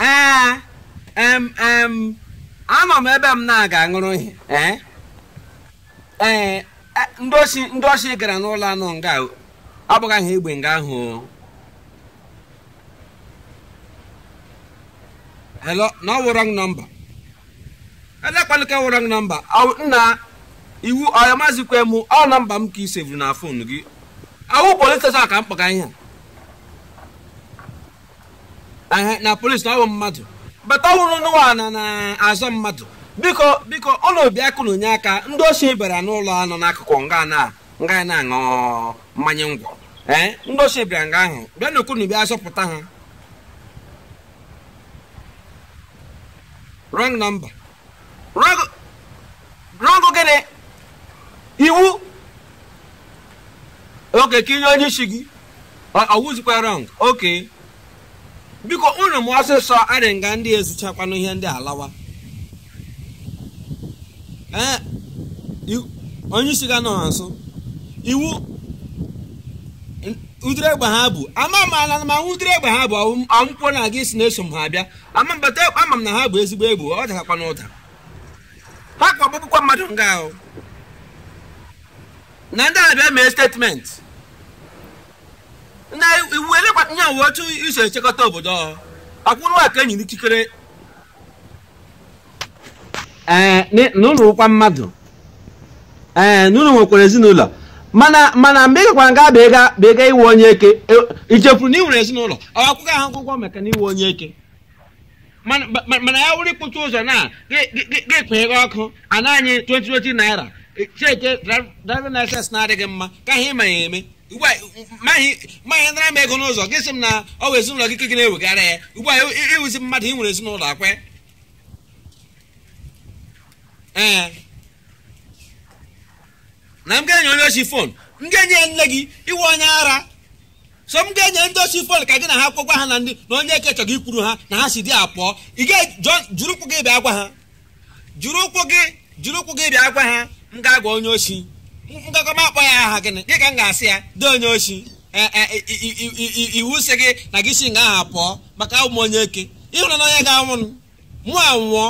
ee em em anọ m ebe m na-aga aṅụrụ ihe ee ee e, ndị osi ndị osi gara n'ụlọ a nọ nga o. ọ bụghị aha egbe nga ahụ o. hello na ọ wụ wrong number elekwanụ ka ọ wụ wrong number Ọ- nna iwu ọya ị mazikwa m ọ nọmba m ka i sevuru na fon gị ọ wụ polis steshọn ka m kpọga ihe a Ehe, na polisi na ọ bụ mmadụ bata ọhụrụ n'ụwa na na-azọ mmadụ biko biko unu bịakwanụ nye aka ndị osi bịara n'ụlọ a nọ n'akụkụ nga na nga ya na-aṅụ mmanya ngwọ ee ndị osi bịara nga ahụ bịanụ ka unu bịa zọpụta ha wrong number wrong gịnị iwu okay ka i nye onye isi gị ọ wụzikwa wrong okay biko unu mee ọsịsọ adị nga ndị ezuchakwanụ ihe ndị a lawa ee onye isi ga-anọ ha nso iwu ụdịrị egbe ha bu ama m ala ma ụdịrị egbe ha bu ọmụkwụ na gị si na-eso m ha abịa ama mbata ama m na ha bu ezigbo egbe ọ dakakwa n'ụda ha kwa agbagbukwa mmadụ nga ahụ na ndị a bịa mee statement na iwu elekwa nye uwe otu i si echekọta obodo ọhụụ akwa unu ka e nyere ikikere ee n- na unu wụkwa mmadụ ee na unu nwekwara ezinụlọ mana mana mgbe ị gakwara nga bụ ịga bụ ịga ịwụ onye eke e- i chefuru na ị nwere ezinụlọ ọ akwụkwọ ahụ akwụkwọ maka na ịwụ onye eke mana ma- mana ya wụrụ ikpochi ụzọ na ga-ekpeghe ọkụ ana anyị 2020 naira cheke driving license na-adịghị mma ka ihe ma ya eme ugbu a ma ị nara m ego n'ụzọ gị sị m na ọ wụ ezinụlọ gị ka gị na-ewegara ya ugbu a ị wụzi mmadụ ị nwere ezinụlọ akwa ee na m ga-enye onye osi fon m ga-enye ya nne gị ị wụ onye ara so m ga-enye ndị osi fon ka gị na ha gwakwa ha na ndị na onye eke chọrọ ikwuru ha na ha si there pụọ ị ga-jiri ụkwụ gị bịa gwa ha jiri ụkwụ gị jiri ụkwụ gị bịa gwa ha m ga-agwa onye osi m ga-akpọ m akpọ ya aha gịnị gị ka m ga-asị ya dee onye osi e, e, iwu sị gị na gị si nga ahụ pụọ maka awụ m onye eke ị hụrụ na onye ga-anwụ mụ anwụọ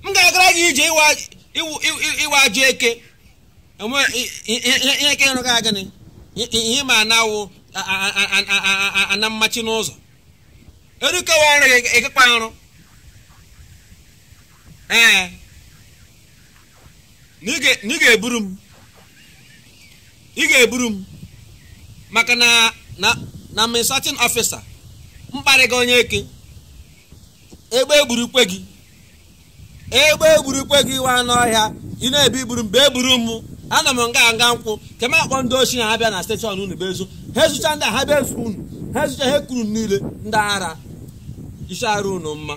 m ga-agara gị ije ị wụ ajọ eke ihe eke ịrụ ga gịnị ihe ma na-awụ na-amachi n'ụzọ erukewa ọrụ gị ị gakwa arụ ee na ị ga-eburu m ị ga-eburu m maka na na na administrative officer mkparị gị onye eke egbe egburukwe gị egbe egburukwe gị nwa anụ ọhịa ị na-ebi iburu m bịa eburu m anọ m nga nga nkwụ ka m akpọ ndị oshi na ha bịa na station unu bịa ezu ha ezucha ndị ha bịa ezu unu ha ezucha ha ekuru niile ndị ara isi arụ unu mma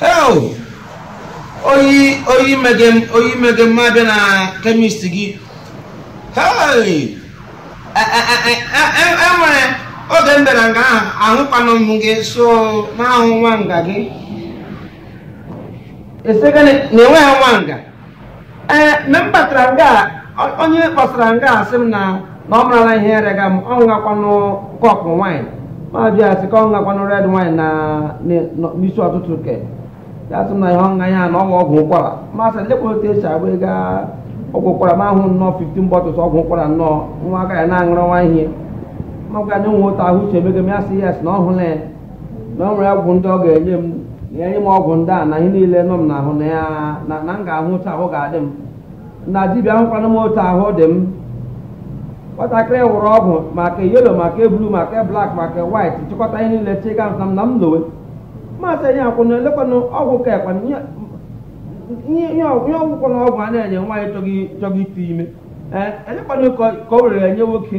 Hell! oyi oyi mege m oyi mege m abịa na chemist gị Hey! E- e- e- e- e- e nwere oge m bịara nga ahụ ahụkwanụ m gị so n'ahụ nwa nga gị esegene na enweghị nwa nga ee mgbe m batara nga a, ọ- onye kpọsara nga a sị m na na ọ marala ihe rega m ọ ṅakwanụ kọpụ wine m ajụ ya sị ka ọ ṅakwanụ red wine na na- na- n'isi ụtụtụ ke ya sị m na ihe ọṅụṅụ ya na ọgwụ ọgwụ ụkwara m asị lekwa otu esi agba ego a- ọgwụ ụkwara m ahụ nnọọ 15 bottles ọgwụ ụkwara nnọọ nwa aka ya na-aṅụrụ nwa ihe m agwa onye nwa otu ahụ si emega m ya sị yes na ọ hụla ya na ọ nwere ọgwụ ndị ọ ga-enye m ya enye m ọgwụ ndị a na ihe niile nọ m n'ahụ na ya na na m ga-ahụ otu ahụ ga-adị m na dibịa ahụkwanụ m otu ahụ dị m nwatakịrị wụrụ ọgwụ ma ke yellow ma ke blue ma ke black ma ke white chịkọta ihe niile chịga sị m na m lowe m asị onye akwụna elekwanụ ọgwụ ka ekwana ihe ihe ihe ọgwụ ihe ọgwụkwọ na ọgwụ a na-enye nwaanyị chọghị chọghị ite ime ee elekwanụ ke ke o weere nye nwoke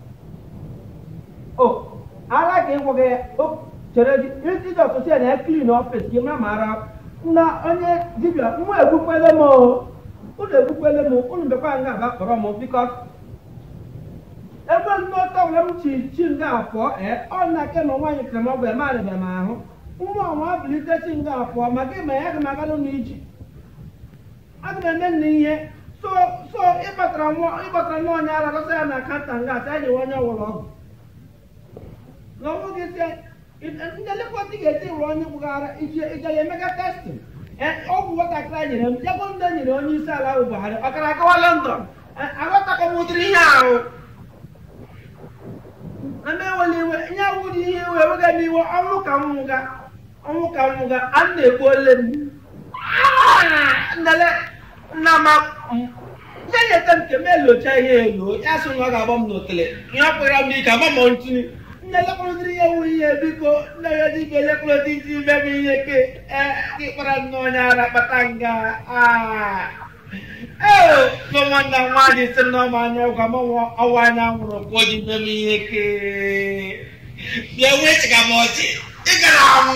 o ala ka ịgwọ gị o chere gị isi dị ụtụtụ ya na ya clean office gị mara ma ara na onye dibịa nwa egbukwele m o unu egbukwele m unu bịakwa nga a bịa kpọrọ m biko ebe ndị ọtọ were m chi chi nga afọ ee ọ na ke ma nwaanyị kere m ọgwụ eme arịbịa m ahụ nwa ọnwa bilite chi nga afọ ma gị ma ya gị ma agalụ n'iji aga m eme nna ihe so so ịkpatara nwa ịkpatara nwa onye ara dọsa ya na counter nga a sị ya nye onye ọwụla ọgwụ na ọ wụ gị sị ndị lekọta ga-eti wụrụ onye gbụghara iji iji ya emega testing ọgwụ nwatakịrị a nyere m jegbo ndị nyere onye isi ala ahụ Buhari ọ gara agawa London aghọtakọ m ụdịrị ihe ahụ na m enwela iwe ihe awụdị ihe iwe ewega m iwe ọnwụ ka m nwụga ọnwụ ka m nwụga a na-ekwu ole m nnele nna ma ya nyeta m nke m elocha ihe elo ya sị na ọ ga-agba m n'otele ihe ọ kpụrụ m n'ike ama m ntụtụ nne lekọrọdịrị ya wụ ihe biko nne ya dị ibe lekọrọdị isi ime m ihe ke ee gị kpara nne onye ara kpata nga aa ee so nwanna m nwaanyị sị m na ọma anya ọgwụ ama m ọ wụ anya nwụrụ ka o ji ime m ihe ke bịa wee chịga m ọchị ị gara anwụ